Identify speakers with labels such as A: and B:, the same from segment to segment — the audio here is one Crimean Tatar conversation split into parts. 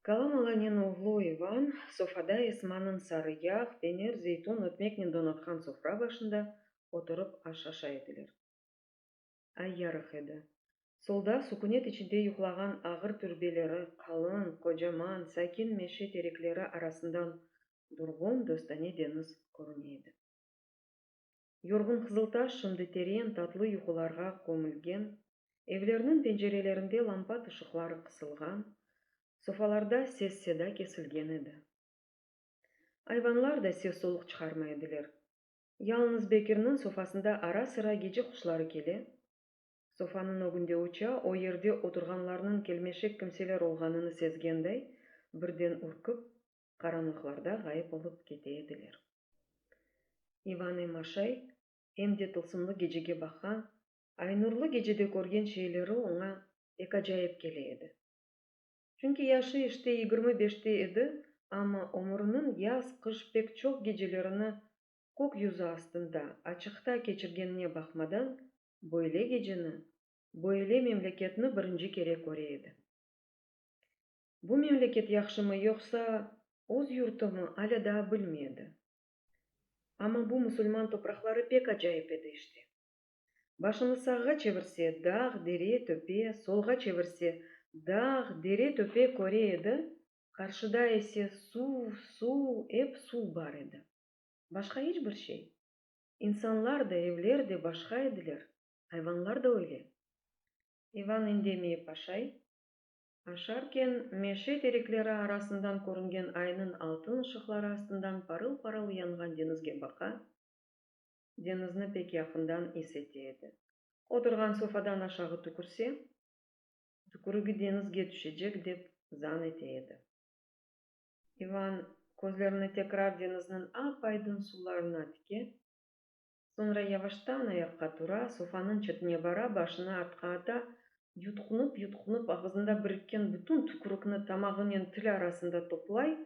A: Kalam Alanen oğlu İvan, sofada Esmanıñ sarı yağ, peynir, zeytun, ötmeknen donatqan sofra başında oturıp aş aşa ediler. Ay yarıq edi. Solda, sukünet içinde yuqlağan ağır türbeleri, qalın, qocaman, sakin meşe terekleri arasından durğun, dostane deñiz körüne edi. Yorğun Qızıltaş şimdi teren, tatlı yuqularğa kömülgen, evlerniñ pencerelerinde lampat ışıqları qısılğan, sofalarda ses-seda kesilgen edi. Ayvanlar da ses-soluq çıqarmay ediler. Yalnız Bekirniñ sofasında ara-sıra gece quşları kele, sofanıñ ögünde uça, o yerde oturğanlarnıñ kelmeşek kimseler olğanını sezgenday, birden ürkip, qaranlıqlarda ğayıp olıp kete ediler. İvane Maşay em de tılsımlı gecege baqan, aynurlı gecede körgen şeyleri oña pek acayip kele edi. Çünki yaşı işte yigirmi beşte edi, amma ömüriniñ yaz-qış pek çoq gecelerini kök yüzü astında, açıqta keçirgenine baqmadan, böyle geceni, böyle memleketni birinci kere köre edi. Bu memleket yahşımı yoqsa öz yurtumı, alâ daa bilmey edi. Amma bu musulman topraqları pek acayip edi işte. Başını sağğa çevirse, dağ, dere, töpe, solğa çevirse, dağ, dere, töpe köre edi, qarşıda ise suv, suv, ep suv bar edi. Başqa iç bir şey. İnsanlar da, evler de başqa ediler, ayvanlar da öyle. İvan endemey, paşay. Aşarken, meşe terekleri arasından körüngen aynıñ altın ışıqları astından parıl-parıl yanğan deñizge baqa, deñizni pek yaqından is ete edi. Oturğan sofadan aşağı tükürse, tükürigi deñizge tüşecek dep zan ete edi. İvan közlerini tekrar deñizniñ ap-aydın suvlarına tike, Soñra yavaştan ayaqqa tura, sofanıñ çetine bara, başını artqa ata, yutqunup-yutqunup ağızında birikken bütün tükürikni tamağınen tili arasında toplay,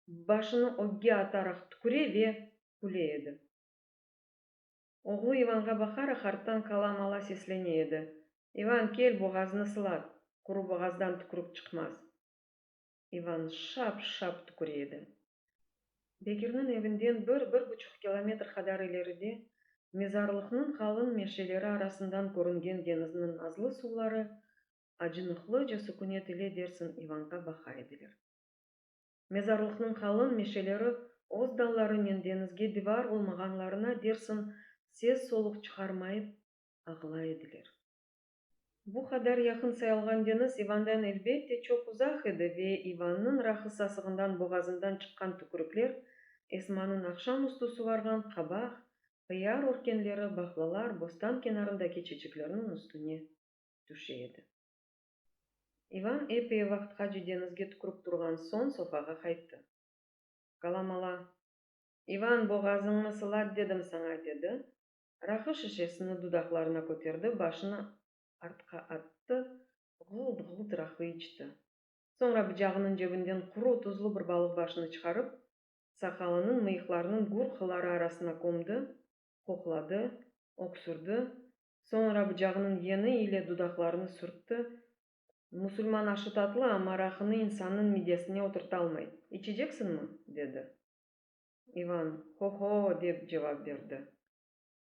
A: başını ögge ataraq tüküre ve küle edi. Oğlu İvanğa baqaraq arttan kalam ala seslene edi, İvan, kel, boğazını sılat, quru boğazdan tükürik çıqmaz. İvan şap-şap tüküre edi. Bekirniñ evinden bir, bir buçuq kilometr qadar ileride, mezarlıqnıñ qalın meşeleri arasından körüngen deñizniñ nazlı suvları acınıqlıca sükünet ile dersiñ İvanğa baqa ediler. Mezarlıqnıñ qalın meşeleri öz dallarınen deñizge divar olmağanlarına dersiñ ses-soluq çıqarmayıp ağlay ediler. Bu qadar yaqın sayılğan deñiz İvandan elbette çoq uzaq edi ve İvannıñ rahı sasığından boğazından çıqqan tükürükler, Esmanıñ aqşam üstü suvarğan qabaq, ıyar örkenleri, bahlalar, bostan kenarındaki çeçeklerniñ üstüne tüşe edi. İvan epey vaqtqace deñizge tükürip turğan soñ sofağa qayttı. Galamala, İvan, boğazıñnı sılat dedim saña, dedi. Raqı şişesini dudaqlarına köterdi, başını artqa attı, ğult-ğult raqı içti. Soñra bıcağınıñ cebinden quru, tuzlu bir balıq başını çıqarıp, saqalınıñ, mıyıqlarınıñ gür qıları arasına kömdi, qoqladı, öksürdi, soñra bıcağınıñ yeni ile dudaqlarını sürtti, Musulman aşı tatlı, amma raqını insannıñ midesine oturtalmay. İçeceksiñmi? dedi. İvan, Ho-ho! dep cevap berdi.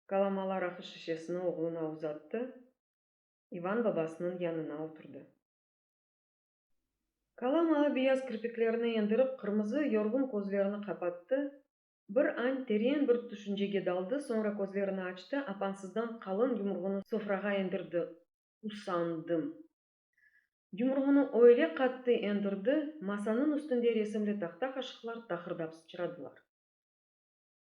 A: Kalamalar aqış şişesini oğluna uzattı. İvan babasınıñ yanına oturdı. Kalama beyaz kirpiklerini endirip, qırmızı yorğun közlerini qapattı, bir añ teren bir tüşüncege daldı, soñra közlerini açtı, apansızdan qalın yumruğını sofrağa endirdi, Usandım! Yumruğını öyle qattı endirdi, masanıñ üstünde resimli tahta-qaşıqlar taqırdap sıçradılar.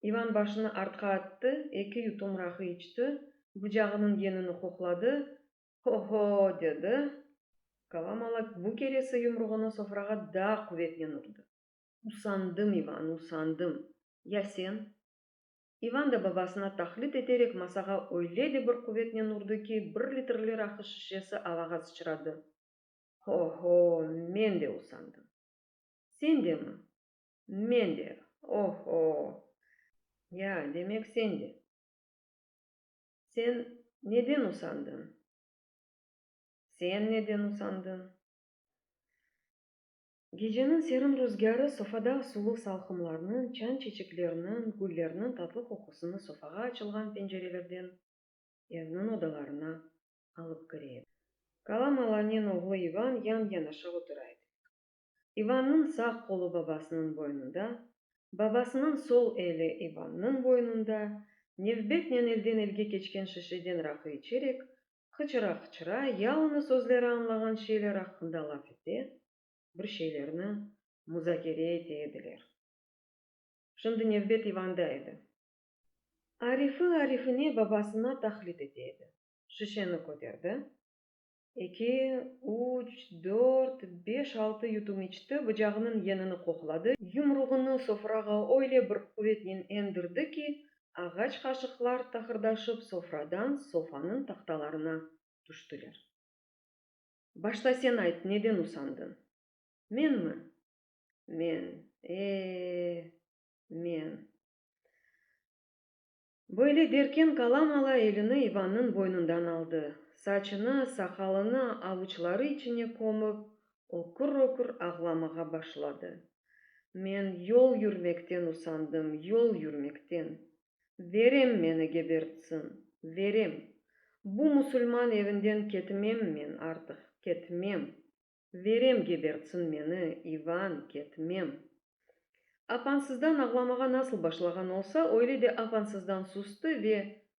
A: İvan başını artqa attı, eki yutum rahı içti, bucağınıñ yenini qoqladı, Ho-ho! dedi. Kalamalak bu keresi yumruğını sofrağa daa quvetnen urdı. Usandım, İvan, usandım. Ya sen? İvan da babasına taqlit eterek masağa öyle de bir quvetnen urdı ki, bir litrli rakı şişesi avağa sıçradı. Ho-ho, men de usandım. Sen de mi? Men de, o-ho! Ya, demek sen de. Sen neden usandıñ? Sen neden usandıñ? Geceniñ serin ruzgârı sofada suluv salqımlarnıñ, çan çeçeklerniñ, güllerniñ tatlı qoqusını sofağa açılğan pencerelerden evniñ odalarına alıp kire edi. Kala Malanen oğlu İvan yan-yanaşa otura edik. İvannıñ sağ qolu babasınıñ boynunda, babasınıñ sol eli İvannıñ boynunda, nevbetnen elden-elge keçken şişeden raqı içerek, Qıçıra-qıçıra yalıñız özleri añlağan şeyler aqqında laf ete, bir şeylerni muzakere ete ediler. Şimdi nevbet İvanda edi. Arifi arifine babasına taqlit ete edi. Şişeni köterdi. Eki, üç, dört, beş, altı yutum içti, bıcağınıñ yenini qoqladı, yumruğını sofrağa öyle bir quvetnen endirdi ki, Ağaç qaşıqlar taqırdaşıp sofradan sofanıñ tahtalarına tüştiler. Başta sen ayt, neden usandın? Menmi? Men, e-e-e, men. Böyle derken Kalam ala elini İvannıñ boynundan aldı, saçını, saqalını avuçları içine kömip, O kür-ökür ağlamağa başladı. Men yol yürmekten usandım, yol yürmekten. Verem meni gebertsin, verem! Bu musulman evinden ketmem men artıq, ketmem! Verem gebertsin meni, İvan, ketmem! Apansızdan ağlamağa nasıl başlağan olsa, öyle de apansızdan sustı ve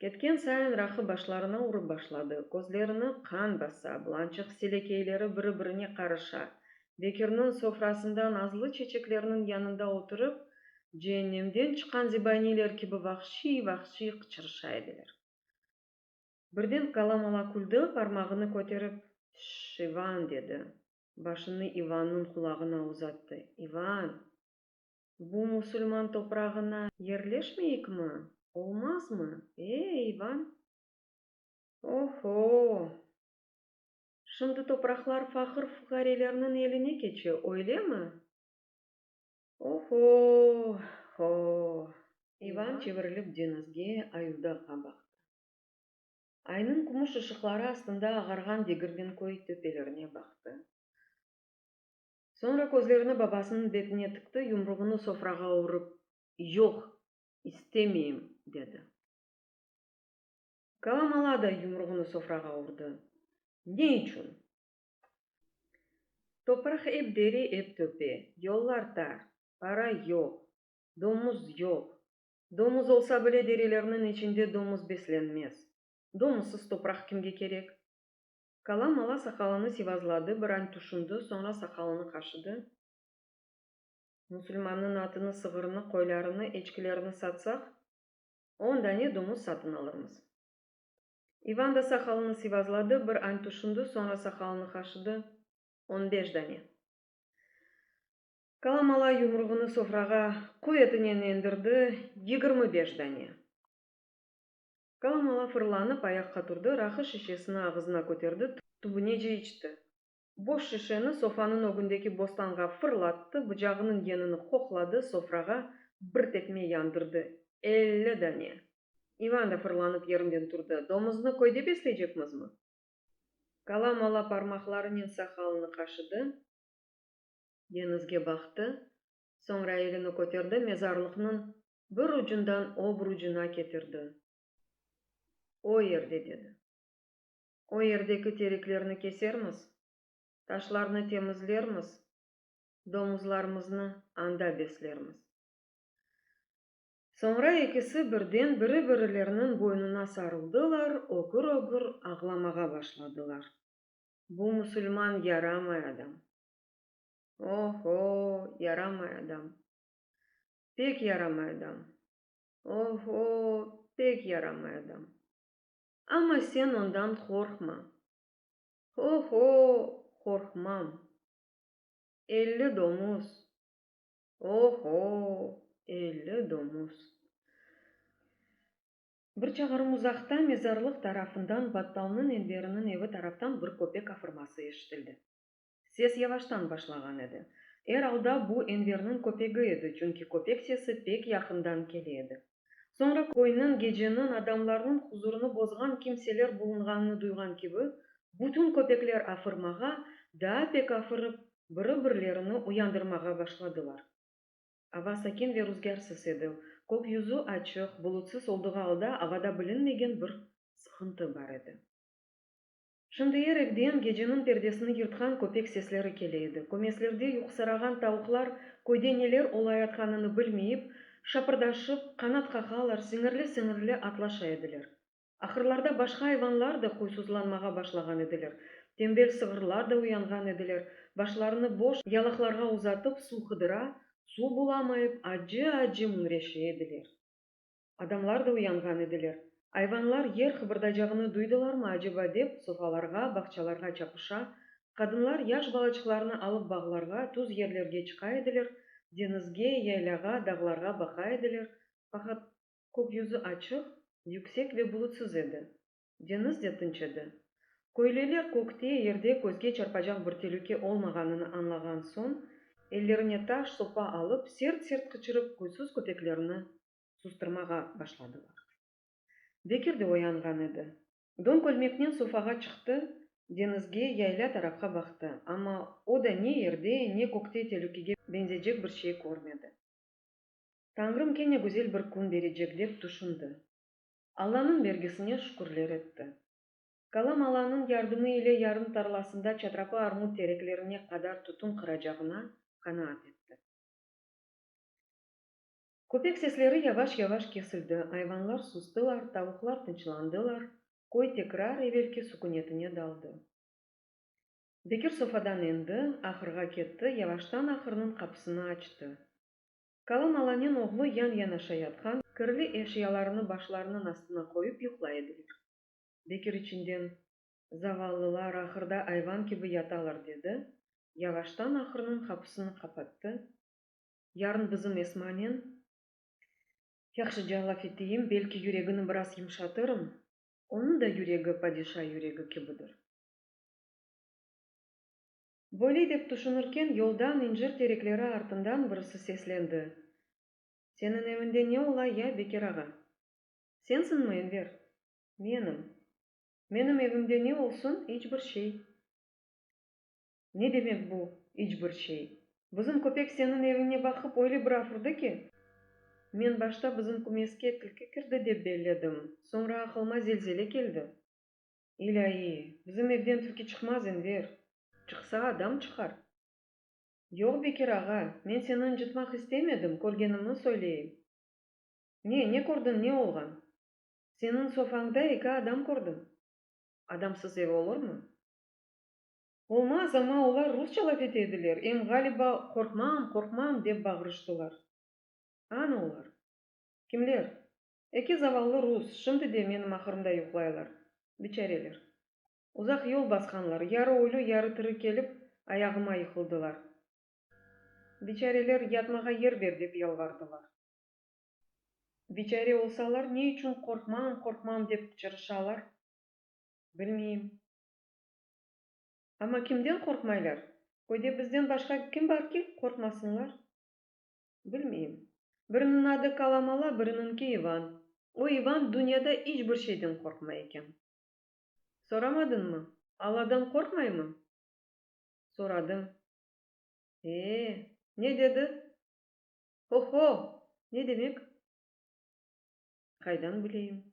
A: Ketken sayın Rahı başlarına urıp başladı, közlerini qan basa, bulançıq selekeyleri biri-birine qarışa. Bekirniñ sofrasında nazlı çeçeklerniñ yanında oturıp, ceennemden çıqqan zebaniyler kibi vahşiy-vahşiy qıçırışa ediler. Birden Kalamala küldi, parmağını köterip, Şş, İvan! dedi. Başını İvannıñ qulağına uzattı. İvan! Bu musulman toprağına yerleşmeyikmi? Olmazmı? E, İvan? O-ho-o! Şimdi topraqlar faqır-fuqarelerniñ eline keçe, öylemi? O-ho-ho! İvan çevirilip deñizge, Ayudaqqa baqtı. Aynıñ kümüş ışıqları astında ağarğan Degirmenköy töpelerine baqtı. Soñra közlerini babasınıñ betine tıqtı, yumruğını sofrağa urıp, Yoq, istemeyim! dedi. Kalamala da yumruğını sofrağa urdı. Ne içün? Topraq ep dere, ep töpe, yollar tar, para yoq, domuz yoq. Domuz olsa bile derelerniñ içinde domuz beslenmez. Domuzsız topraq kimge kerek? Kala mala saqalını sivazladı, bir añ tüşündi, soñra saqalını qaşıdı. Musulmannıñ atını, sığırını, qoylarını, eçkilerini satsaq, on dane domuz satın alırmız. İvan da saqalını sivazladı, bir añ tüşündi, soñra saqalını qaşıdı, On beş dane. Kala mala yumruğını sofrağa quvetinen endirdi, Yigirmi beş dane. Gal mala fırlanıp ayaqqa turdı, rahı şişesini ağızına köterdi, tübünece içti. Boş şişeni sofanıñ ögündeki bostanğa fırlattı, bıcağınıñ yenini qoqladı, sofrağa bir tepme yandırdı. Elli dane! İvan da fırlanıp yerinden turdı. Domuznı köyde besleycekmizmi? Gal mala parmaqlarınen saqalını qaşıdı, deñizge baqtı, Soñra elini köterdi, mezarlıqnıñ bir ucundan obrucuna ketirdi. O yerde, dedi. O yerdeki tereklerni kesermiz, taşlarnı temizlermiz, domuzlarımıznı anda beslermiz. Soñra ekisi birden biri-birileriniñ boynuna sarıldılar, ögür-ögür ağlamağa başladılar. Bu musulman yaramay adam. O-ho, yaramay adam! Pek yaramay adam! O-ho, pek yaramay adam! Amma sen ondan qorqma! O-ho, qorqmam! Elli domuz! O-ho, elli domuz! Bir çağırım uzaqta, mezarlıq tarafından, battalnıñ elberiniñ evi taraftan bir köpek afırması eşitildi. Ses yavaştan başlağan edi. Er alda bu Enverniñ köpegi edi, çünki köpek sesi pek yaqından kele edi. Soñra köyniñ geceniñ adamlarnıñ huzurını bozğan kimseler bulunğanını duyğan kibi, bütün köpekler afırmağa, daa pek afırıp, biri-birlerini uyandırmağa başladılar. Ava sakin ve ruzgârsız edi, kökyüzü açıq, bulutsız oldığı alda avada bilinmegen bir sıqıntı bar edi. Şimdi er evden geceniñ perdesini yırtqan köpek sesleri kele edi. Kömeslerde yuqusarağan tavuqlar köyde neler olayatqanını bilmeyip, şapırdaşıp, qanat qaqalar, siñirli-siñirli atlaşa ediler. Ahırlarda başqa ayvanlar da huysuzlanmağa başlağan ediler. Tembel sığırlar da uyanğan ediler, başlarını boş yalaqlarğa uzatıp, suv qıdıra, suv bulamayıp, acı-acı müñreşe ediler. Adamlar da uyanğan ediler. Ayvanlar yer qıbırdaycağını duydılarmı aceba dep, sofalarğa, bağçalarğa çapışa, qadınlar yaş balaçıqlarını alıp bağlarğa, tuz yerlerge çıqa ediler, deñizge, yaylâğa, dağlarğa baqa ediler, faqat kökyüzü açıq, yüksek ve bulutsız edi. Deñiz de tınç edi. Köylüler kökte, yerde közge çarpacaq bir telüke olmağanını añlağan soñ, ellerine taş, sopa alıp, sert-sert qıçırıp, huysuz köpeklerni sustırmağa başladılar. Bekir de oyanğan edi. Don kölmeknen sofağa çıqtı, deñizge, yaylâ tarafqa baqtı, amma o da ne yerde, ne kökte telükege beñzecek bir şey körmedi. Tañrım kene güzel bir kün berecek, dep tüşündi. Allanıñ bergisine şükürler etti. Kalam Allanıñ yardımı ile yarım tarlasında çatrapı armut tereklerine qadar tütün qıracağına qanaat etti. Köpek sesleri yavaş-yavaş kesildi, ayvanlar sustılar, tavuqlar tınçlandılar, köy tekrar evelki sükünetine daldı. Bekir sofadan endi, ahırğa ketti, yavaştan ahırnıñ qapısını açtı. Qalan Alanen oğlu yan-yanaşa yatqan kirli eşyalarını başlarınıñ astına qoyıp yuqlay ediler. Bekir içinden, Zavallılar ahırda ayvan kibi yatalar, dedi, yavaştan ahırnıñ qapısını qapattı, Yarın bizim Esmanen yahşıca laf eteyim, belki yüregini biraz yımşatırım, onıñ da yüregi padişa yüregi kibidir. Böyle dep tüşünirken, yoldan, incir terekleri artından birisi seslendi, Seniñ evinde ne ola ya, Bekir ağa? Sensiñmi, Enver? Menim. Menim evimde ne olsun, iç bir şey. Ne demek bu, iç bir şey? Bizim köpek seniñ eviñe baqıp öyle bir afurdı ki, men başta bizim kümeske tilki kirdi dep belledim, soñra aqılıma zelzele keldi. İlâyi, bizim evden tilki çıqmaz, Enver! Çıqsa, adam çıqar. Yoq, Bekir ağa, men seni ıncıtmaq istemedim, körgenimni söyleyim. Ne, ne kördiñ, ne olğan? Seniñ sofañda eki adam kördim. Adamsız ev olurmı? Olmaz, amma olar rusça laf ete ediler, em ğaliba qorqmam, qorqmam, dep bağırıştılar. Anı olar? Kimler? Eki zavallı rus şimdi de menim ahırımda yuqlaylar, biçareler. Uzaq yol basqanlar, yarı ölü, yarı tiri kelip, ayağıma yıqıldılar. Biçareler, yatmağa yer ber, dep yalvardılar. Biçare olsalar, ne içün qorqmam, qorqmam dep qıçırışalar, bilmeyim. Amma kimden qorqmaylar? Köyde bizden başqa kim bar ki, qorqmasınlar? Bilmeyim. Biriniñ adı Kalamala, biriniñki İvan. O İvan dünyada iç bir şeyden qorqmay eken. Soramadıñmı? Alladan qorqmaymı? Soradım. Ee, ne dedi? Ho-ho! Ne demek? Qaydan bileyim?